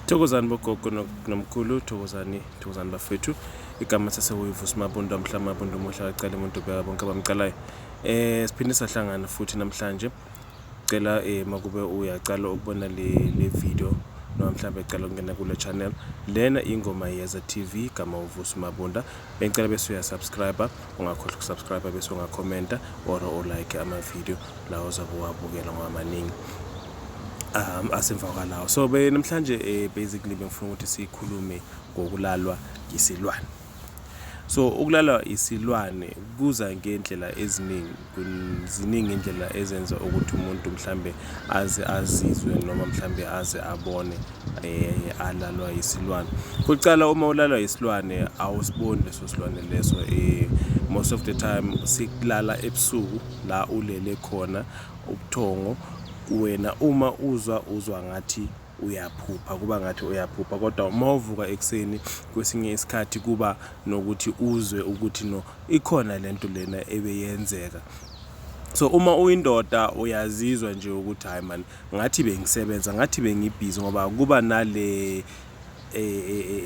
Thokozani bogogo nomkhulu thokozani thokozani bafethu igama sasewuyivu simabundu amhla amabundu umuhle akacala umuntu obeka bonke abamcalayo eh siphinde sahlangana futhi namhlanje cela eh makube uyacala ukubona le le video noma mhlawumbe ecela ukungena kule channel lena ingoma yeza tv igama uvusi mabunda bengicela bese uyasubscriber Ungakhohlwa ukusubscribe bese ungakhomenta or ulike ama-video lawo ozabe uwabukela ngoba maningi um asemva kwalawo so be namhlanje um basically bengifuna ukuthi sikhulume ngokulalwa yisilwane so ukulalwa isilwane kuza ngendlela eziningi Ziningi indlela ezenza ukuthi umuntu mhlambe aze azizwe noma mhlambe aze abone eh alalwa isilwane. Kuqala uma ulalwa isilwane awusiboni leso silwane leso eh most of the time sikulala ebusuku la ulele khona ubuthongo wena uma uzwa uzwa ngathi uyaphupha kuba ngathi uyaphupha kodwa uma uvuka ekuseni kwesinye isikhathi kuba nokuthi uzwe ukuthi no ikhona lento lena ebeyenzeka so uma uyindoda uyazizwa nje ukuthi hayi man ngathi bengisebenza ngathi bengibhizi ngoba kuba nale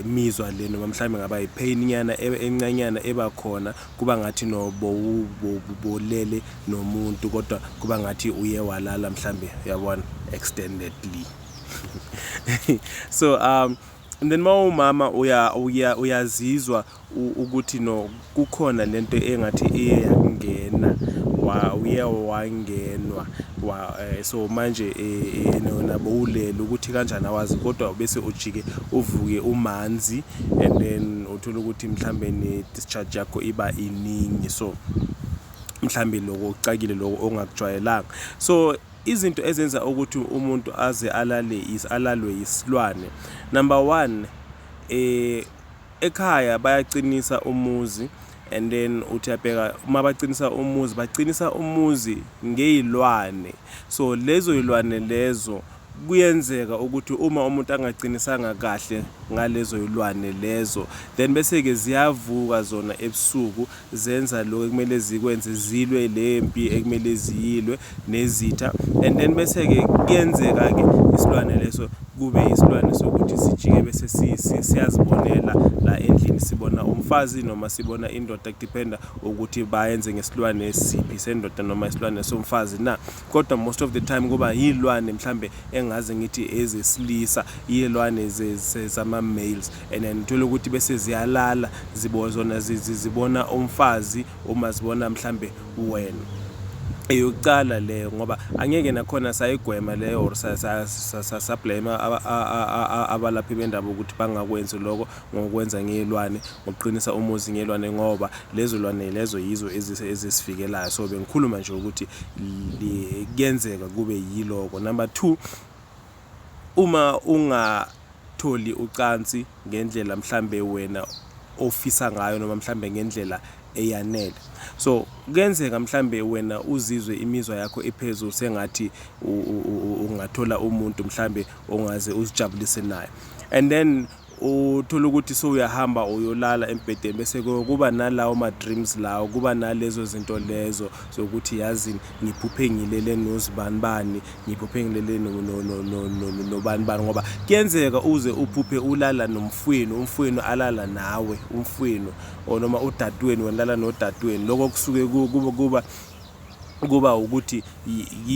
mizwa le noma mhlawumbe ngaba yipain nyana e, encanyana eba khona kuba ngathi no bowubolele nomuntu kodwa kuba ngathi uye walala mhlawumbe yabona extendedly so um and then mawumama uya uyazizwa ukuthi no kukhona lento engathi iye yakungena uye wangenwa eh, so manje eh, eh, nabo ulele ukuthi kanjani awazi kodwa bese ujike uvuke umanzi and then uthola ukuthi mhlambe ne-discharge yakho iba iningi so mhlambe loko kucakile loko ongakujwayelanga so izinto ezenza ukuthi umuntu aze alale is alalwe yisilwane number one eh Ekhaya bayacinisa umuzi and then uthi uyabheka uma bacinisa umuzi bacinisa umuzi ngeyilwane so lezo yilwane lezo kuyenzeka ukuthi uma umuntu angacinisanga kahle ngalezo yilwane lezo then bese-ke ziyavuka zona ebusuku zenza lokhu ekumele zikwenze zilwe le mpi ekumele ziyilwe nezitha and then bese-ke kuyenzeka-ke isilwane leso kube isilwane sokuthi sijike bese siyazibonela la endlini sibona umfazi noma sibona indoda kudependa ukuthi bayenze ngesilwane esiphi sendoda noma isilwane somfazi na kodwa most of the time kuba yilwane mhlambe engaze ngithi ezesilisa yilwane zama-males and then uthole ukuthi bese ziyalala zibo zona zibona umfazi uma zibona mhlambe wena eyokucala leyo ngoba angeke nakhona sayigwema leyo or sablame abalaphi bendaba ukuthi bangakwenzi lokho ngokwenza ngeyilwane ngokuqinisa umuzi ngeyilwane ngoba lezo lwane lezo yizo ezisivikelayo so bengikhuluma nje ukuthi kuyenzeka kube yiloko number two Uma ungatholi ucansi ngendlela mhlambe wena ofisa ngayo noma mhlambe ngendlela eyanele. So kuyenzeka mhlambe wena uzizwe imizwa yakho iphezulu sengathi ungathola umuntu mhlambe ongaze uzijabulise naye. And then Uthola ukuthi sewuyahamba uyolala embhedeni bese kuba nalawo ma-dreams lawo kuba nalezo zinto lezo zokuthi yazi ngiphuphe ngilele nozibani bani ngiphuphe ngilele nobani bani ngoba kuyenzeka uze uphuphe ulala nomfwenu umfwenu alala nawe umfwenu or noma udadweni wena lala nodadweni lokho kusuke kuba kuba ukuthi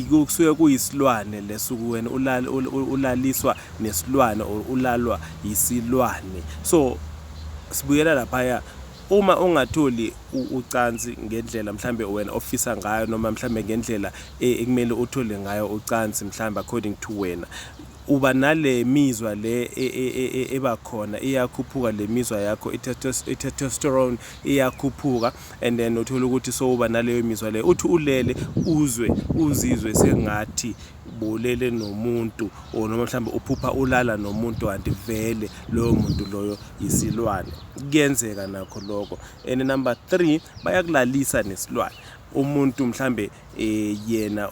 kusuke kuyisilwane lesuku wena ulaliswa nesilwane or ulalwa yisilwane so sibuyela laphaya uma ungatholi ucansi ngendlela mhlambe wena ofisa ngayo noma mhlambe ngendlela e, ekumele uthole ngayo ucansi mhlambe according to wena uba nale mizwa le e, e, ebakhona iyakhuphuka le mizwa yakho i-testosterone iyakhuphuka and then uthola ukuthi sowuba naleyo mizwa leyo uthi ulele uzwe uzizwe sengathi bolele nomuntu or noma mhlawumbe uphupha ulala nomuntu kanti vele loyo muntu loyo yisilwane kuyenzeka nakho lokho and number 3 bayakulalisa nesilwane umuntu mhlambe eh yena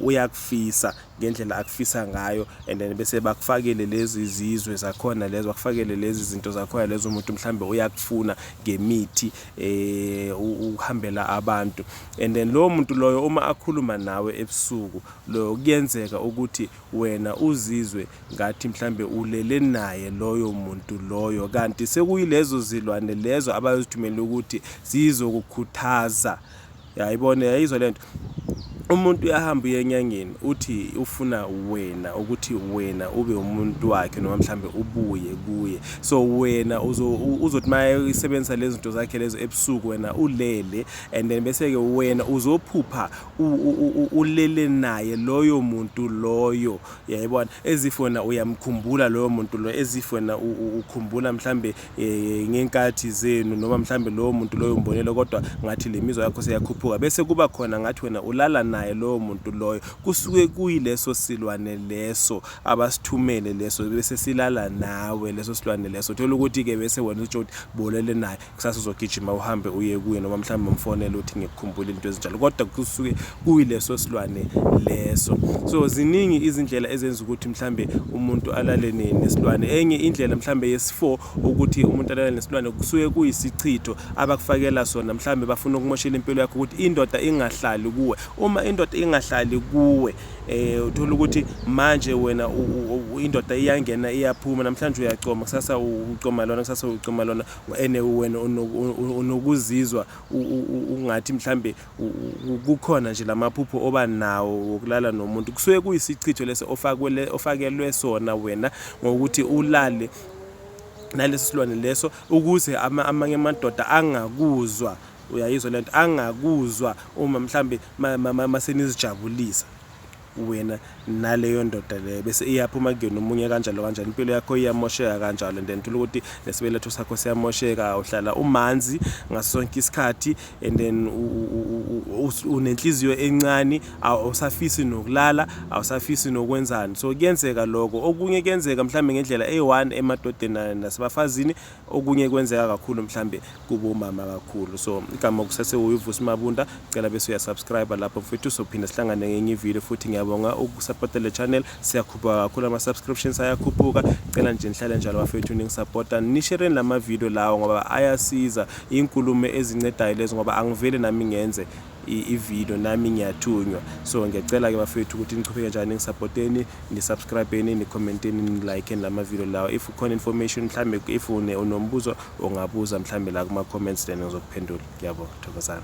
uyakufisa ngendlela akufisa ngayo and then bese bakufakele lezi zizwe zakhona lezo bakufakele lezi zinto zakhona lezo umuntu mhlambe uyakufuna ngemithi eh uhambela abantu and then lowo muntu loyo uma akhuluma nawe ebusuku loyo kuyenzeka ukuthi wena uzizwe ngathi mhlambe ulele naye loyo muntu loyo kanti sekuyilezo zilwane lezo abayozithumela ukuthi zizokukhuthaza yayibona yayizwa lento umuntu uyahamba uye enyangeni uthi ufuna wena ukuthi wena ube umuntu wakhe noma mhlambe ubuye kuye so wena uzothi maye isebenzisa lezi zinto zakhe lezo ebusuku wena ulele and then bese ke wena uzophupha ulele naye loyo muntu loyo yayibona ezifona uyamkhumbula loyo muntu loyo ezifona ukhumbula mhlambe eh, ngenkathi zenu noma mhlambe lowo muntu loyo umbonile kodwa ngathi le mizwa yakho seyakhuphuka bese kuba khona ngathi wena ulala naye lowo muntu loyo kusuke kuyileso silwane leso abasithumele leso bese silala nawe leso silwane leso thola ukuthi ke bese wena utsho ukuthi bolele naye kusasa uzogijima uhambe uye kuye noma mhlawumbe umfonele uthi ngikukhumbule into ezinjalo kodwa kusuke kuyileso silwane leso so ziningi izindlela ezenza ukuthi mhlambe umuntu alale nesilwane enye indlela mhlambe yesi4 ukuthi umuntu alale nesilwane kusuke kuyisichitho abakufakela sona mhlambe bafuna ukumoshela impilo yakho ukuthi indoda ingahlali kuwe uma indoda ingahlali kuwe eh uthola ukuthi manje wena indoda iyangena iyaphuma namhlanje uyacoma kusasa ucoma lona kusasa ucoma lona ene wena unokuzizwa ungathi mhlambe kukhona nje lamaphupho oba nawo wokulala nomuntu kusuke kuyisichitho lesi ofakwele ofakelwe sona wena ngokuthi ulale naleso silwane leso ukuze amanye amadoda angakuzwa uyayizwa lento angakuzwa uma mhlambe masenizijabulisa wena naleyo ndoda leyo bese iyaphuma kuyona omunye kanjalo kanjalo impilo yakho iyamosheka kanjalo and then thola ukuthi nesibeletho sakho siyamosheka uhlala umanzi ngaso sonke isikhathi and then unenhliziyo encane awusafisi nokulala awusafisi nokwenzani so kuyenzeka lokho okunye kuyenzeka mhlawumbe ngendlela eyi-one emadodeni nasebafazini okunye kwenzeka kakhulu mhlambe kubo umama kakhulu so igama kusase uyivusi mabunda cela bese uyasubscribe lapho mfethu sophinde sihlangane ngenye ivideo futhi ngiyabonga ukusupporta le channel siyakhuphuka kakhulu ama subscriptions ayakhuphuka cela nje nihlale njalo bafethu ningisupporta nishereni lama video lawo ngoba ayasiza inkulumo ezincedayo lezo ngoba angivele nami ngenze ivideo nami ngiyathunywa so ngiyacela ke bafethu ukuthi nichubeke njani ngisupporteni nisubscribeni nicommenteni nilike lama video lawo if ukhona information mhlambe if une unombuzo ongabuza mhlambe la kuma comments then ngizokuphendula ngiyabonga thokozani